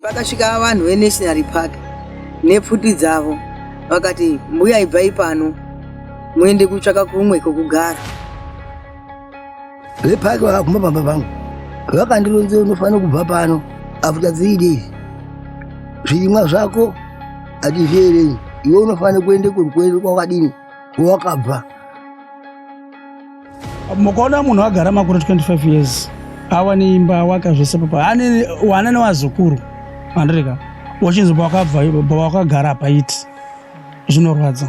Pakasvika vanhu veNational Park nepfuti dzavo vakati, mbuya ibvai pano muende kutsvaka kumwe kwekugara. Vepaki vakaguma pamba pangu vakandironzera unofanira kubva pano after three days zvirimwa zvako hatizvierenyi iwe unofanira kuenda kuenda kwakadini wakabva mukaona munhu agara makore 25 years awane imba awaka zvese papa ane wana newazukuru andireka wachinzi pawakabva pawakagara paiti zvinorwadza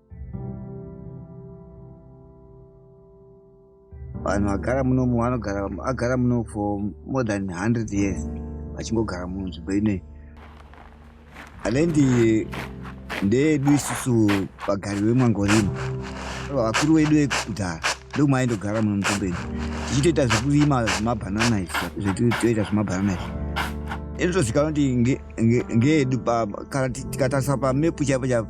vanhu vagara muno vanogara agara muno for more than 100 years vachingogara muno nzvimbo inei alendi ndeedu isusu vagari vemwangorima vakuru vedu vekudhara ndokumaindogara muno mutombo ino tichitoita zvekurima zvemabhanana zvetoita zvemabhanana izvi inotozikanwa kuti ngeedu kana tikatarisa pamepu chaipo chaipo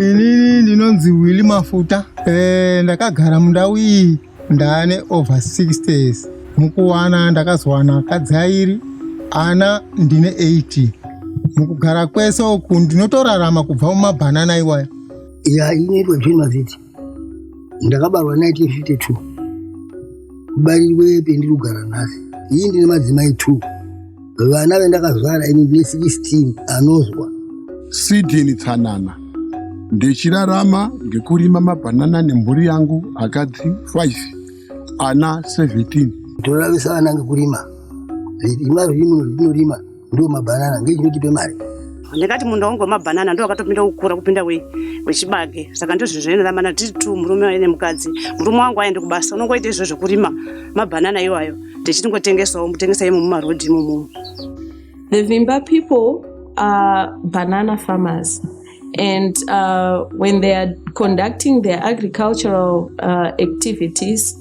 Inini ndinonzi Willy Mafuta. Eh, ndakagara mundau iyi ndane over 60 years. Mukuwana ndakazowana kadzairi ana ndine 80. Mukugara kwese uku ndinotorarama kubva mumabhanana iwaya. ya inoitwa june maziti ndakabarwa 1952 kubarirwe pendiri kugara nhasi iyi ndine madzimai two vana vendakazvara ini ndine 16 anozwa sidini tsanana ndichirarama ngekurima mabhanana nemhuri yangu akadzi 5 ana 17 toravisa vana ngekurima zvima zvimuno zvitinorima ndiwo mabhanana ngechinotipe mari ndakati munda wangu wemabhanana ndo wakatopinda kukura kupinda wechibage saka ndizvo zvinoramana tiri two murume waine mukadzi murume wangu aende kubasa unongoita izvo zvekurima mabhanana iwayo tichitingotengesawo mutengesa imo mumarodhi imomomo the vimba people are banana farmers and uh, when they are conducting their agricultural uh, activities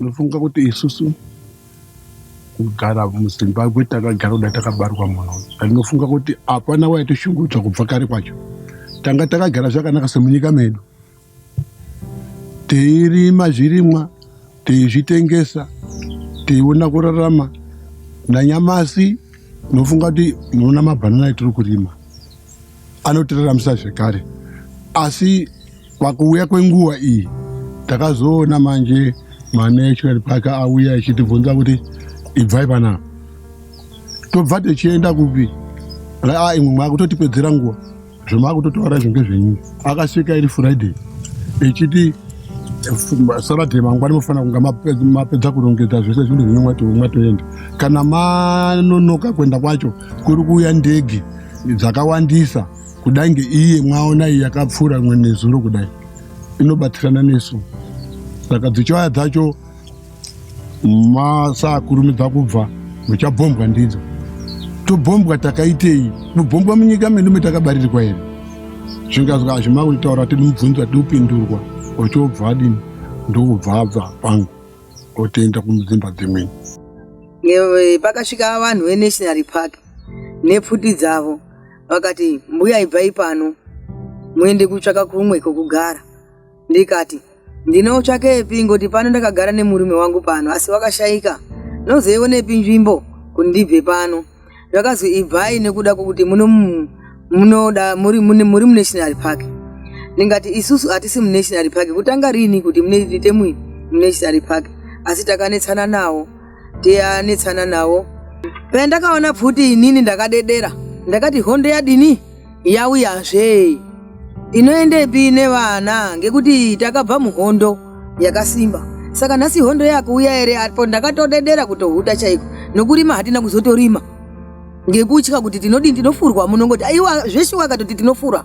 Unofunga kuti isusu kugara muzimbabwe takagara kuda takabarwa muno ndinofunga kuti hapana waitoshungurudzwa kubva kare kwacho tanga takagara zvakanaka semunyika medu teirima zvirimwa teizvitengesa teiona kurarama nanyamasi nofunga kuti muona mabhanana etiri kurima anotiraramisa zvekare asi pakuuya kwenguva iyi takazoona manje manatural park auya ichitibvunza kuti ibvai panapa tobva tichienda kupi raa imwe mwakutotipedzera nguva zvemakutotaura izvo ngezvenyuyi akasvika iri friday ichiti saturday mangwani mofanira kunga mapedza kurongedza zvese zvinhu zvinhu mwatoenda kana manonoka kuenda kwacho kuri kuuya ndege dzakawandisa kudai ngeiye mwaona iyi yakapfuura imwe nezuro kudai inobatsirana nesu saka dzichauya dzacho masaakurumidza kubva muchabhombwa ndidzo tobhombwa takaitei kubhombwa munyika medu metakabarirwa here zvingazwa hazvima kutaura kuti mubvunzo ati upindurwa ochobva adini ndokubva abva pangu otoenda kumdzimba dzimweni pakasvika vanhu venational park nepfuti dzavo vakati mbuya ibvai pano muende kutsvaka kumwe kokugara ndikati ndinotsvakepi ngoti pano ndakagara nemurume wangu pano asi wakashaika nozoionepi nzvimbo kuti ndibve pano zvakazi ibvai nekuda kwokuti muno- munoda muri mune muri munational park ndingati isusu hatisi munational park kutanga rini kuti munoite mui munational park asi takanetsana nawo ndiyanetsana nawo pandakaona pfuti inini ndakadedera ndakati hondo yadini yauyazve inoendepi nevana ngekuti takabva muhondo yakasimba saka nhasi hondo yakuuya ere apo ndakatodedera kutohuta chaiko nokurima hatina kuzotorima ngekutya kuti tinodini tinofurwa munongoti aiwa zveshuwa katoti tinofura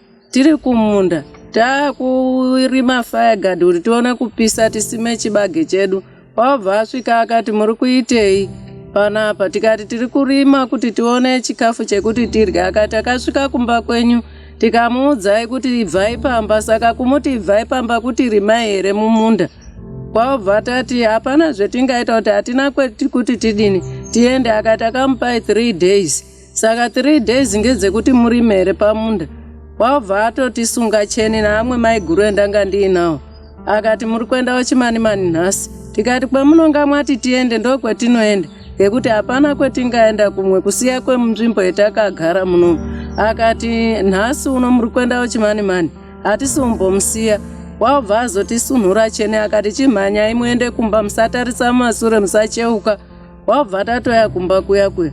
Tiri kumunda takurima fireguard kuti tione kupisa tisime chibage chedu. Wabva asvika akati muri kuitei panapa? Tikati tiri kurima kuti tione chikafu chekuti tirye. Akati akasvika kumba kwenyu tikamuudzai kuti ibvai pamba, saka kumuti ibvai pamba kuti rimai here mumunda? kwabva tati hapana zvetingaita kuti hatina kuti tidini tiende akati akamupai three days Saka three days ngedzekuti murime here pamunda? Wabva atoti sunga cheni naamwe maiguru endanga ndiinawo. Akati muri kuendawo chimanimani nhasi. Tikati kwamunonga mwati tiende ndokwetinoenda ngekuti hapana kwetingaenda kumwe kusiya kwemunzvimbo yetakagara muno. Akati nhasi uno muri kuendawo chimanimani hatisi umbomusiya wabva azotisunhura cheni akati chimhanyai muende kumba musatarisa mumasure musacheuka wabva tatoya kumba kuya kuya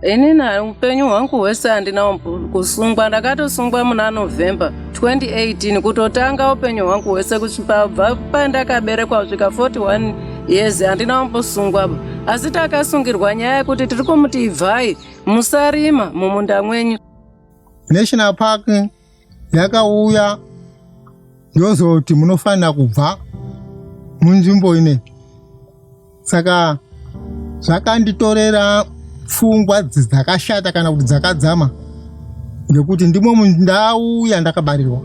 ini na upenyu hwangu hwese handina kusungwa ndakatosungwa muna november 2018 kutotanga upenyu hwangu hwese kusvibva pandakaberekwa svika 41 years handina wambosungwa asi takasungirwa nyaya yekuti tiri kumuti ibvai musarima mumunda mwenyu national park yakauya yozoti munofanira kubva munzvimbo ine saka zvakanditorera pfungwa dzakashata kana kuti dzakadzama ngekuti ndimo mundau yandakabarirwa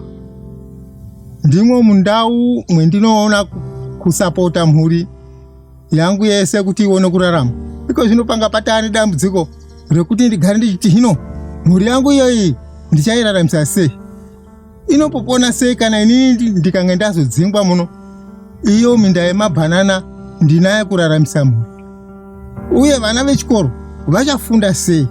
ndimo mundau mwendinoona kusapota mhuri yangu yese kuti ione kurarama iko zvino panga patane dambudziko rekuti ndigare ndichiti hino mhuri yangu iyoyi ndichairaramisa sei inopopona sei kana inini ndikange ndazodzingwa muno iyo minda yemabhanana ndinaye kuraramisa mhuri uye vana vechikoro vachafunda sei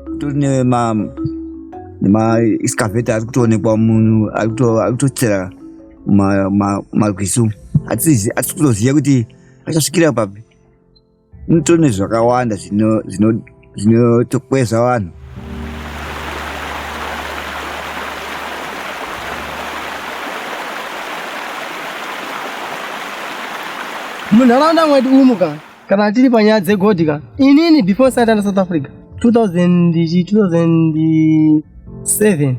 kutori nema ma excavator ari kutoonekwa munhu ari kutochera marwizi umu hatisi kutoziva kuti achasvikira papi Mutori nezvakawanda zvinotokwezva vanhu. Munharaunda mwedu umu ka kana tiri panyaya dzegodhi ka inini before satana south africa 2000 2007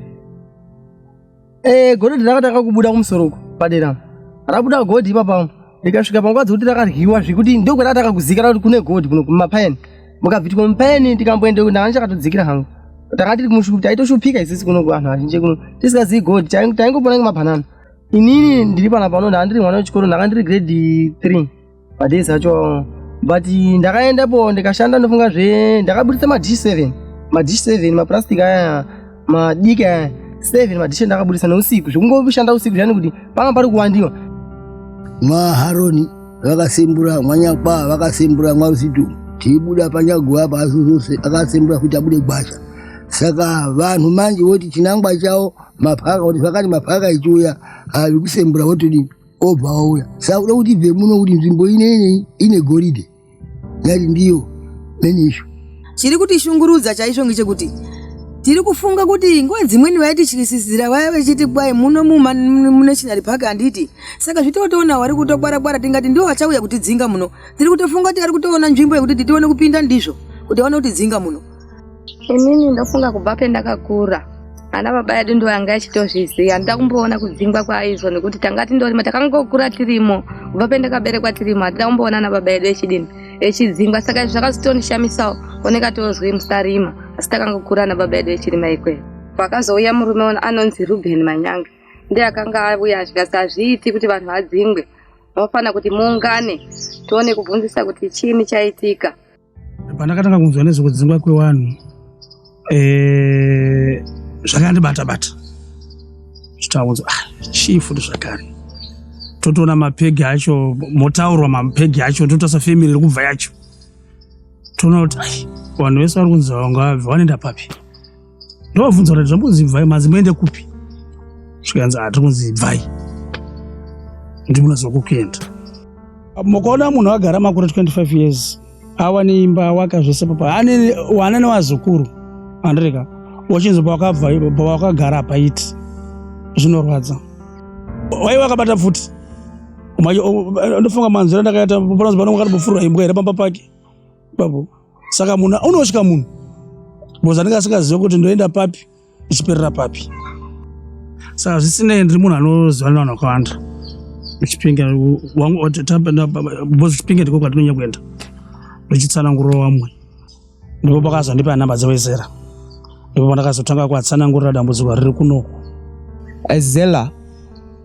Eh, godoti rakatanga kubuda kumusoro uko padera. Rabuda godhi ipapa. Ndikasvika panguva dzekuti rakaryiwa zvekuti ndokwerakatanga kuzikana kuti kune godhi kuno kumapayeni. Mukabvitwa mupayeni tikamboenda ndanga ndichakatodzikira hangu. Takanga tiri kumushupi taitoshupika isisi kuno kuvanhu vazhinji kuno. Tisingazivi godhi taingopona ngemabhanana. Inini ndiri pana pano ndanga ndiri mwana wechikoro ndanga ndiri grade 3. Padei sacho but ndakaendapo ndikashanda ndofunga zve ndakaburitsa madish seven madish seven maplastic aya madiki aya seven madish ndakaburitsa neusiku zvekungoshanda usiku zvani kuti panga pari kuwandiwa maharoni vakasimbura mwanyakwaa vakasimbura mwarusitu tiibuda panyaguva pasu zose akasimbura kuti abude gwasha saka vanhu manje voti chinangwa chavo mapaka kuti zvakati mapaka ichiuya avikusembura votodii obva auya sauda kuti bve muno kuti nzvimbo inei ine goridhe yati ndiyo menisho chiri kuti shungurudza chaizvo ngechekuti tiri kufunga kuti nguva dzimweni vaitityisisira vaya vechiti kwai muno munational park handiti saka zvitotoona wari kutokwarakwara tingati ndiwo vachauya kutidzinga muno tiri kutofunga kuti vari kutoona nzvimbo yekuti titione kupinda ndizvo kuti vaone kutidzinga muno inini ndofunga kubva pendakakura ana baba yedu ndo yanga yachitozviziva handida kumboona kudzingwa kwaizvo nekuti tanga tindorima takangokura tirimo kubva pendakaberekwa tirimo hatida kumboona ana baba yedu echidini echidzingwa saka izvi zvakazotondishamisawo oneka tozwi musarima asi takangokura ana baba yedu echirima ikweyo pakazouya murume anonzi ruben manyange ndiye akanga auya zvikasi hazviiti kuti vanhu vadzingwe vanofanira kuti muungane tione kubvunzisa kuti chiini chaitika Pandakatanga kunzwa nezvekudzingwa kwewanhu eh, zvakandibata bata zvitaunzo ah, chii futi zvakare totoona mapegi acho motaurwa mapegi acho totosa family iri kubva yacho toona kuti vanhu vese vari kunzi vanga vabve wanoenda papi ndovabvunza kuti zvambonzi ibvai manzi muende kupi zvikanzi ah, tiri kunzi ibvai ndimunoziva kukuenda mukaona munhu agara makore 25 years awane imba awaka zvese papa ane wana nevazukuru andireka wachinzi pawakabva pawakagara apaiti zvinorwadza wai wakabata pfuti ndofunga manzira ndakaita panonzi panonga kati bofurwa imbwa here pamba pake babu saka munhu unotya munhu bcause anenge asingazive kuti ndoenda papi ndichiperera papi saka zvisinei ndiri munhu anoziva nevanhu vakawanda chipinge bcause chipinge ndiko kwatinonya kuenda ndichitsanangurira vamwe ndipo pakazondipa nhamba dzevesera ndipo pandakazotanga kuatsanangurira dambudziko riri kunoku azela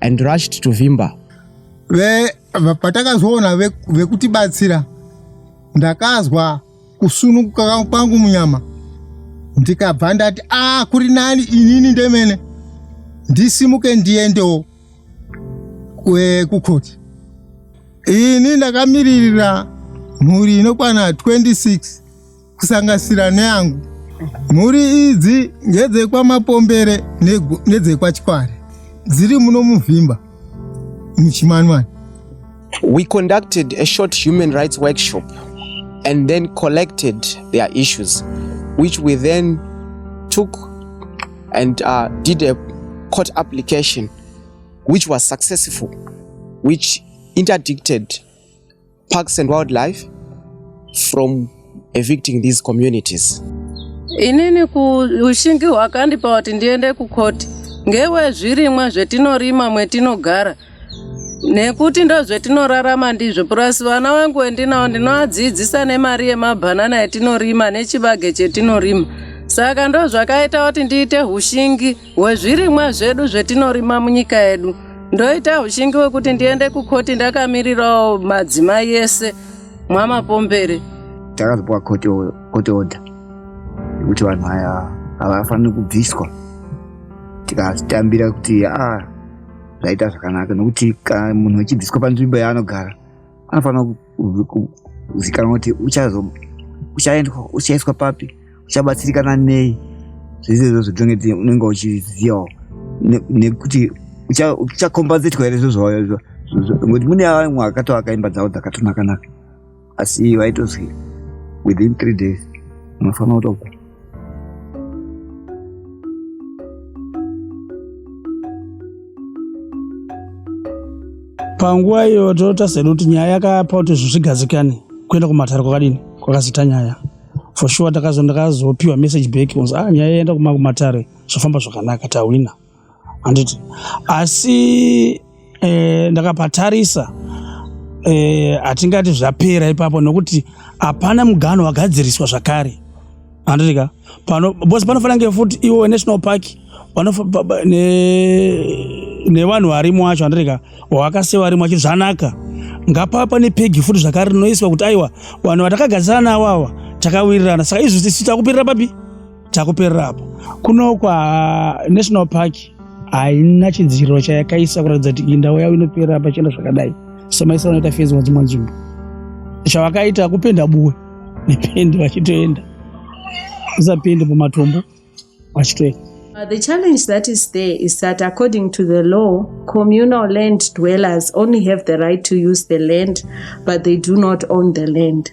and rushed to vimba patakazoona vekutibatsira ve ndakazwa kusunukuka kwangu munyama ndikabva ndati a ah, kuri nani inini ndemene ndisimuke ndiendewo kukhoti ini ndakamiririra mhuri inokwana 26 kusangasira neyangu mhuri idzi ngedzekwaMapombere nedzekwaChikware dziri muno Muvimba muChimanwani We conducted a short human rights workshop and then collected their issues which we then took and uh, did a court application which was successful which interdicted Parks and Wildlife from evicting these communities. Inini ushingi hwakandipa kuti ndiende kukhoti ngewezvirimwa zvetinorima mwetinogara nekuti ndozvetinorarama ndizvo purasi vana vangu wendinawo ndinovadzidzisa nemari yemabhanana yetinorima nechibage chetinorima saka ndozvakaita kuti ndiite ushingi wezvirimwa zvedu zvetinorima munyika yedu ndoita ushingi wekuti ndiende kukoti ndakamirirawo madzimai ese mwamapombere takazopiwa court order yekuti vanhu aya havafaniri kubviswa tikazvitambira kuti a ah, zvaita zvakanaka nokuti munhu achibviswa panzvimbo yaanogara anofanira kuzikanwa kuti uchaiswa papi uchabatsirikana nei zvese izvozvo dzinenge unenge uchizivawo nekuti uchakombazetwa here zvo zvawayozvo ngokuti mune vamwe akatoaka imba dzavo dzakatonakanaka asi vaitozwi within three days unofanira kutobva panguva iyo toita sedu kuti nyaya yakapa kuti zvinhu zvigadzikane kuenda kumatare kwakadini kwakazita nyaya for sure ndakazopiwa message back kunzi ah nyaya yaenda kumatare zvafamba zvakanaka tahwina handiti asi eh, ndakapatarisa eh, hatingati zvapera ipapo nokuti hapana mugano wagadziriswa zvakare handiti ka pano bose panofanira nge futi iwo national park nevanhu varimo wacho handiti ka wakase varimo wacho zvanaka ngapava pane pegi futi zvakare rinoiswa kuti aiwa vanhu vatakagadzirana navo ava takawirirana saka izvozvo tisu takupirira papi takuperera apa kuno kwanational park haina chidziro chayakaisa kuratidza kuti iyi ndau yavo inoperera pachena zvakadai semaisa vanoita fezi wadzimwe nzvimbo chavakaita kupenda buwe nependi vachitoenda usapendi pamatombo vachitoenda Uh, the challenge that is there is that according to the law, communal land dwellers only have the right to use the land, but they do not own the land.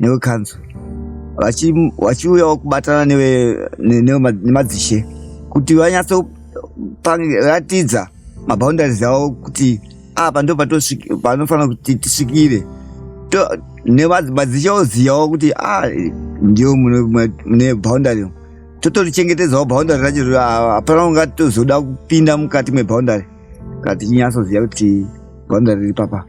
newe kanzu vachiuyawo kubatana newe nemadzishe kuti vanyatso ratidza maboundaries avo kuti apa ndo panofanira kuti tisvikire nemadzishe ozivawo kuti a ndio mune boundary totorichengetedzawo boundary racho hapana kunga tozoda kupinda mukati meboundary kati inyatsoziva kuti boundary riri papa